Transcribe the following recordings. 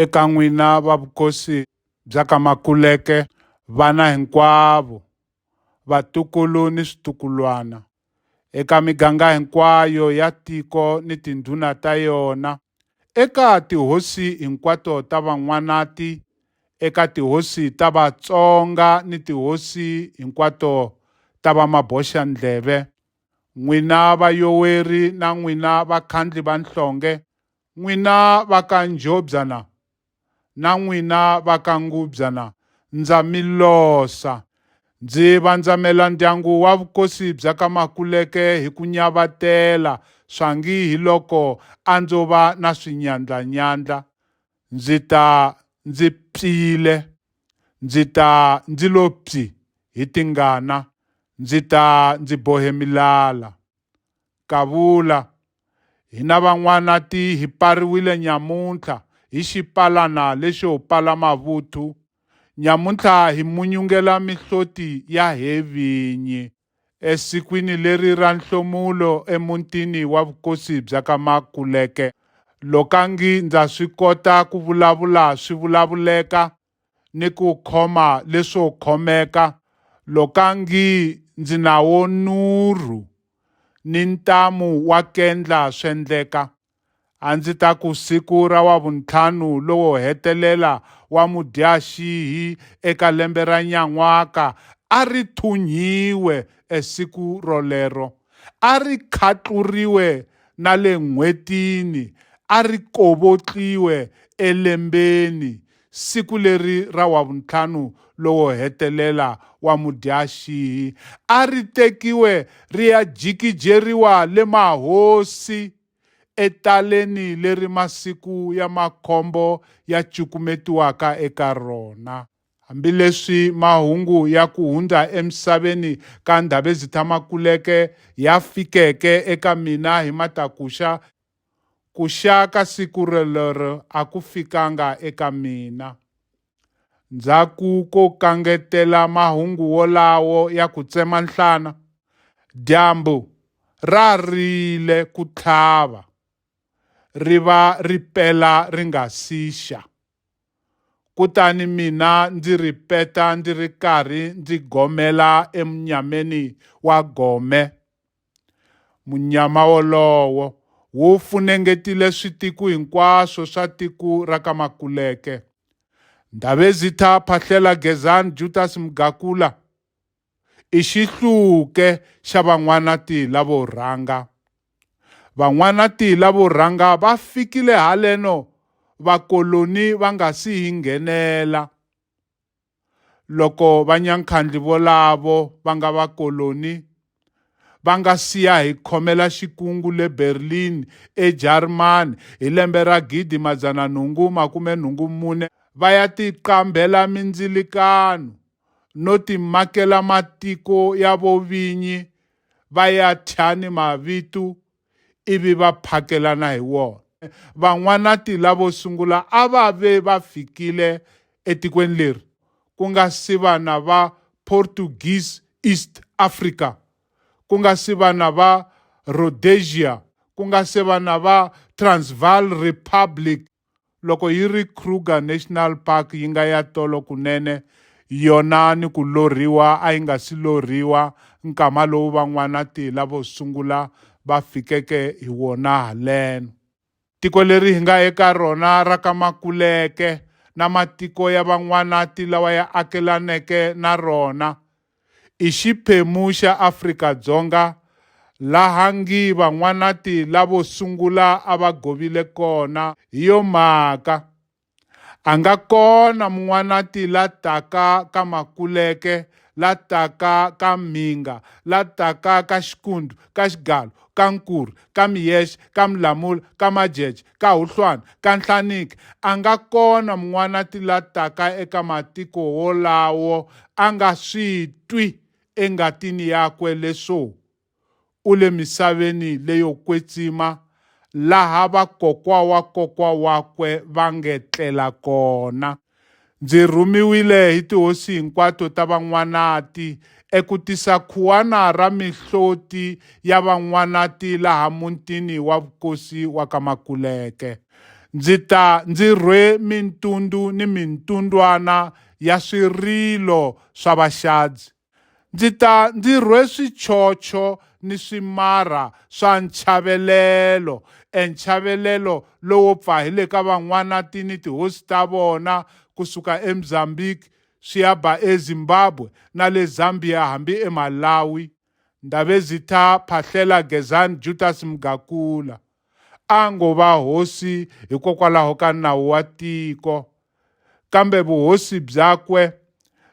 Eka n'wina va vukosi bya ka Makuleke, vana hinkwavo, vatukulu ni switukulwana, eka miganga hinkwayo ya tiko ni tindhuna ta yona, eka tihosi hinkwato ta Van'wanati, eka tihosi ta Vatsonga ni tihosi hinkwato ta Vamaboxandleve, n'wina vayoweri na n'wina vakhandli va nhlonge, N'wina va ka Njhobyana na n'wina va ka Ngubyana ndza mi losa. Ndzi vandzamela ndyangu wa vukosi bya ka Makuleke hi ku nyavatela swangi hi loko a ndzo va na swinyandlanyandla ndzi ta ndzi pfile, ndzi ta ndzi lo pyi hi tingana, ndzi ta ndzi bohe milala. Kavula. Hina van'wanati hi pariwile nyamuntlha hi xipalana lexo pala mavuthu. Nyamuntlha hi munyungela mihloti ya he vinyi. Esikwini leri ra nhlomulo emuntini wa vukosi bya ka Makuleke. Lokangi ndza swi kota ku vulavula swi vulavuleka, ni ku khoma leswo khomeka lokangi ndzi nawo nurhu ni ntamu wa kendla swendleka a ndzi ta ku siku ra wavuntlhanu lowo hetelela wa mudyaxihi eka lembe ra nyan'waka a ri thunyiwe esiku rolero a ri khatluriwe na le n'hwetini a ri kovotliwe elembeni Siku leri ra Wavuntlhanu lowo hetelela wa mudyaxihi a ri tekiwe ri ya jikijeriwa le Mahosi etaleni leri masiku ya makhombo ya cukumetiwaka eka rona. Hambileswi mahungu ya ku hundza emisaveni ka Ndhavezitha-Makuleke ya fikeke eka mina hi matakuxa, Ku xa ka siku rolero a ku fikanga eka mina. Ndzhaku ko kangetela mahungu wolawo ya ku tsema nhlana, dyambu ra rile ku tlhava, ri va ri pela ri nga si xa. Kutani mina ndzi ripeta ndzi ri karhi ndzi gomela emunyameni wa gome, Munyama wolowo wu funengetile switiku hinkwaswo swa tiku ra ka Makuleke. Ndabezitha Phahlela Gezani Jutas Mgakula i xihluke xa Van'wanatila vo rhanga. Van'wanatila vo rhanga va fikile haleno vakoloni va nga si hi nghenela. loko vanyankhandli volavo va nga vakoloni va nga siya hi khomela xikungu le Berlin eJarimani hi lembe ra gidi madzana nhungu makume nhungu mune va ya tiqambhela mindzilikano no timakela matiko ya vovinyi va ya thya ni mavitu ivi va phakelana hi wona. Van'wanati lavo sungula a va ve va fikile etikweni leri ku nga si va na va Portuguese East Africa, ku nga si va na va Rhodesia, ku nga se va na va Transvaal Republic Loko yi ri Kruger National Park yi nga ya tolo kunene, yona ni ku lorhiwa a yi nga si lorhiwa nkama lowu van'wana-tihla vo sungula va fikeke hi wona haleno. Tiko leri hi nga eka rona ra ka Makuleke na matiko ya van'wana-ti lawa ya akelaneke na rona, i xiphemu xa Afrika-Dzonga laha Ngiva N'wanati lavo sungula a va govile kona. Hi yo mhaka, a nga kona Mun'wanati la taka ka Makuleke, la taka ka Mhinga, la taka ka Xikundu, ka Xigalo, ka Nkuri, ka Miyesh, ka Mlamula, ka Majeje, ka Huhlwana, ka Nhlaniki, a nga kona mun'wanati la taka eka matiko wolawo a nga swi twi engatini yakwe leswo u le misaveni leyo kwetsima laha vakokwa wa kokwa wakwe va nge tlela kona. Ndzi rhumiwile hi tihosi hinkwato ta Van'wanati eku tisa khuwana ra mihloti ya Van'wanati laha mutini wa vukosi wa ka Makuleke. Ndzi ta ndzi rhwe mintundu ni mintundwana ya swirilo swa Vaxadzi. Ndzi ta ndzi rhwe swichocho ni swimarha swa nchavelelo, enchavelelo lowo pfa hi le ka van'wanati ni tihosi ta vona, ku suka eMzambiki swi ya ba eZimbabwe na le Zambia hambi eMalawi. Ndabezitha Phahlela Gezani Jutas Mgakula a ngo va hosi hikokwalaho ka nawu wa tiko. kambe vuhosi byakwe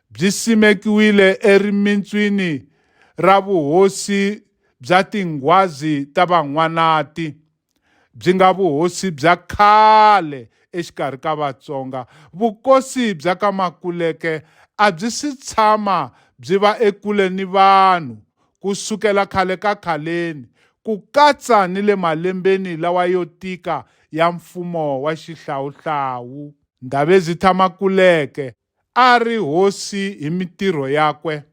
byi simekiwile erimintswini ra vuhosi bya tinghwazi ta van'wanati byi nga vuhosi bya khale exikarhi ka Vatsonga. Vukosi bya ka Makuleke a byi si tshama byi va ekule ni vanhu Ku sukela khale ka khaleni, ku katsa ni le malembeni lawa yo tika ya mfumo wa xihlawuhlawu, Ndabezitha Makuleke a a ri hosi hi mitirho yakwe.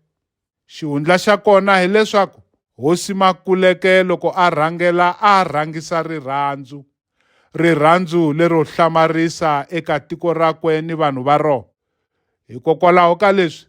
Xihundla xa kona hi leswaku Hosi Makuleke loko a rhangela a a rhangisa rirhandzu, rirhandzu lero hlamarisa eka tiko rakwe ni vanhu va rona. Hikokwalaho ka leswi,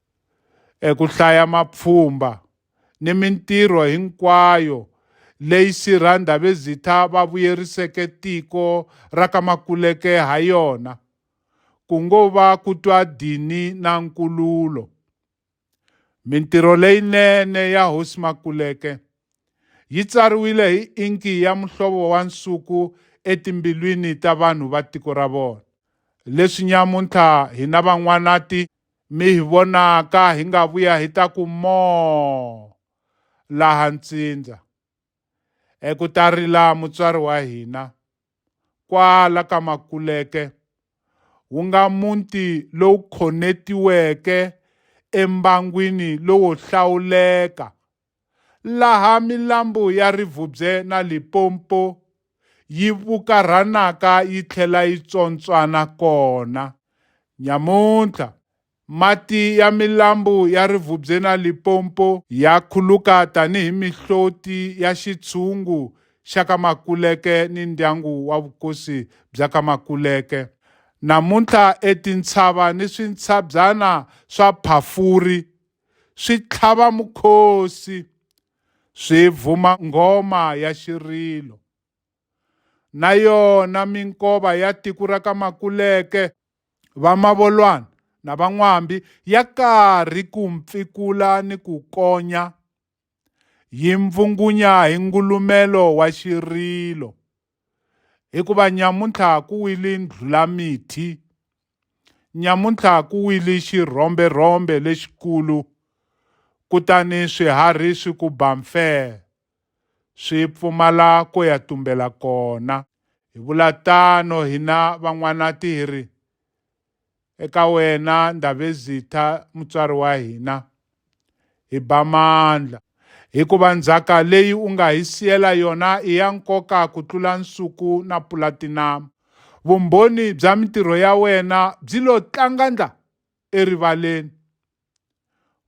eku hlaya mapfhumba ni mintirho hinkwayo leyi Sirha Ndabezitha va vuyeriseke tiko ra ka Makuleke ha yona, ku ngo va ku twa dini na nkululo. Mintirho leyinene ya Hosi Makuleke yi tsariwile hi inki ya muhlovo wa nsuku etimbilwini ta vanhu va tiko ra vona. Leswi nyamuntlha hina Van'wanati Mi hi vonaka hi nga vuya hi ta ku moo laha ntsindza, eku ta rila mutswari wa hina, kwala ka Makuleke, wu nga muti lowu khonetiweke embangwini lowo hlawuleka laha milambu ya Rivubye na Limpopo yi vukarhanaka yi tlhela yi tswontswana kona. Nyamuntlha, mati ya milambu ya Rivubye na Limpopo ya khuluka tanihi mihloti ya xitshungu xa ka Makuleke ni ndyangu wa vukosi bya ka Makuleke. Namuntlha e tintshava ni swintshabyana swa Phafuri swi tlhava mukhosi swi vhuma nghoma ya xirilo na yona minkova ya tiko ra ka Makuleke va Mavolwana na Van'wambi ya karhi ku mpfikula ni ku konya yi mpfungunya hi ngulumelo wa xirilo hikuva nyamuntlha ku wili ndlhulamithi nyamuntlha ku wili xirhomberhombe lexikulu kutani swiharhi swi ku ba mfee swi pfumala ko ya tumbela kona hi vula tano hina van'wanati hi ri eka wena Ndabezitha mutswari wa hina, hi ba mandla, hikuva ndzhaka leyi u nga hi siyela yona i ya nkoka ku tlula nsuku na pulatinamu. Vumbhoni bya mintirho ya wena byi lo tlangandla erivaleni.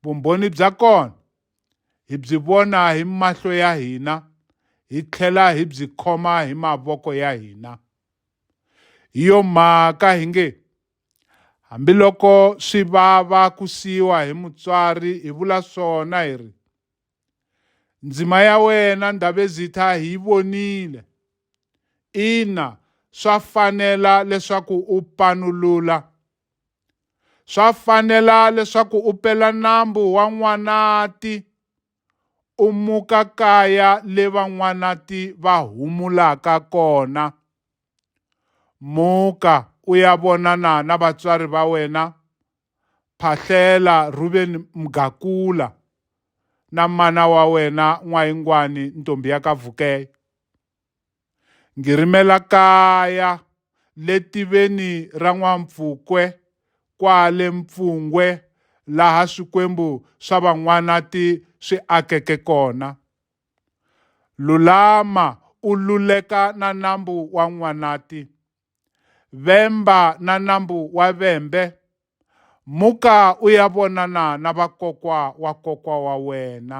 Vumbhoni bya kona hi byi vona hi mahlo ya hina hi tlhela hi byi khoma hi mavoko ya hina hi yo mhaka hi nge hambiloko swi vava ku siyiwa hi mutswari hi vula swona hi ri ndzima ya wena ndhavezitha hi yi vonile ina swa fanela leswaku u panulula Swa fanela leswaku u pela nambu wa N'wanati u muka kaya le van'wanati va humulaka kona. Muka u ya vonana na vatswari va wena, Phahlela Rhuveni Mgakula na mana wa wena N'wayingwani Ntombi ya ka Vukeya. Ngi rimela kaya le tiveni ra N'wampfukwe kwale Mpfungwe laha swikwembu swa Van'wanati swi akeke kona. Lulama u luleka na nambu wa N'wanati. Vemba na nambu wa Vembe. Muka u ya vonana na vakokwa wa kokwa wa wena.